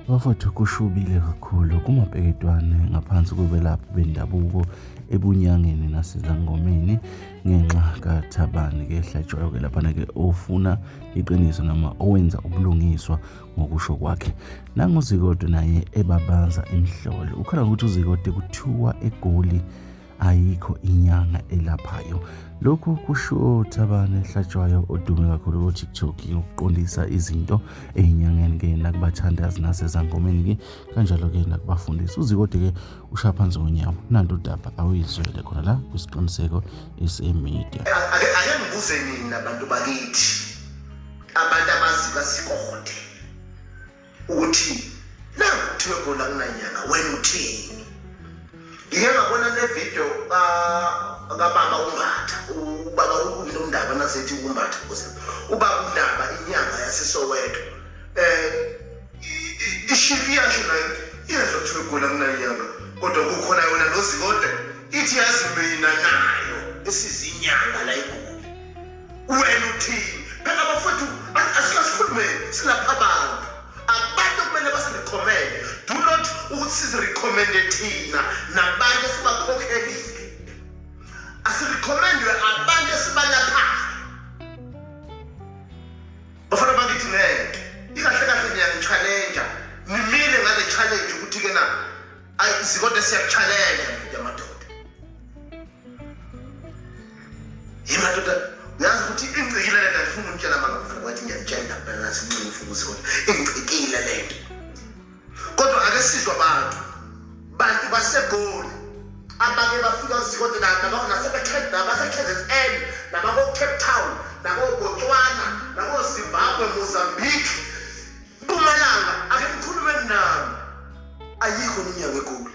Bafowethu kushubile kakhulu kumabheketwane ngaphansi kokwelaphi bendabuko ebunyangeni nasezangomeni ngenxa kathabani kehlatshwayo ke laphana-ke ofuna iqiniso noma owenza ubulungiswa ngokusho kwakhe nanguzikode naye ebabaza imhlolo ukhala ngokuthi uzikode kuthiwa egoli ayikho inyanga elaphayo lokhu kusho uthabane ehlatshwayo odume kakhulu kutiktok yokuqondisa izinto ey'nyangeni ke nakubathandazi nasezangomeni ke kanjalo ke nakubafundisi uzikode ke ushaya phansi ngonyawo nanto udaba awuyizwele khona la kwisiqiniseko esemedia ake ngibuze nini abantu bakithi abantu abazi basikode ukuthi nangu kuthiwe gula kunanyana wena uthini ngike ngabona le video kababa umbatha ubaba ukumni umndaba nasethi umbatha kuze ubaba umndaba inyanga yasesoweto um ishiri yasho nayo iyezwa kuthiwe gula kunanyanga kodwa kukhona yona lozikode ithi yazi mina nayo esizinyanga la igula wena uthini phela bafowethu asikazikhulumeni silapha abantu abantu kumele basirekhomende do not ukuthi sizirekhomende thina nabantu esibakhokhelile asirekhomendwe abantu esibalaphayo bafana bakithi ngeke ikahle kahle niyangitshalenja nimile ngale challenge ukuthi-ke na ayi sikodwa siyakuchallenge yimadoda uyazi ukuthi ingcikile lento andifuni umtshela mangafuna wathi ngiyamtshela ngempela nathi mncini ufuna ukuthi kodwa ingcikile lento kodwa ake sizwa abantu bantu basegoli abake bafika zikode nabasebekhenda nabasekhenzes n nabakocape town nakobotswana nakozimbabwe mozambique mpumalanga ake ngikhulume nami ayikho ninyanga egoli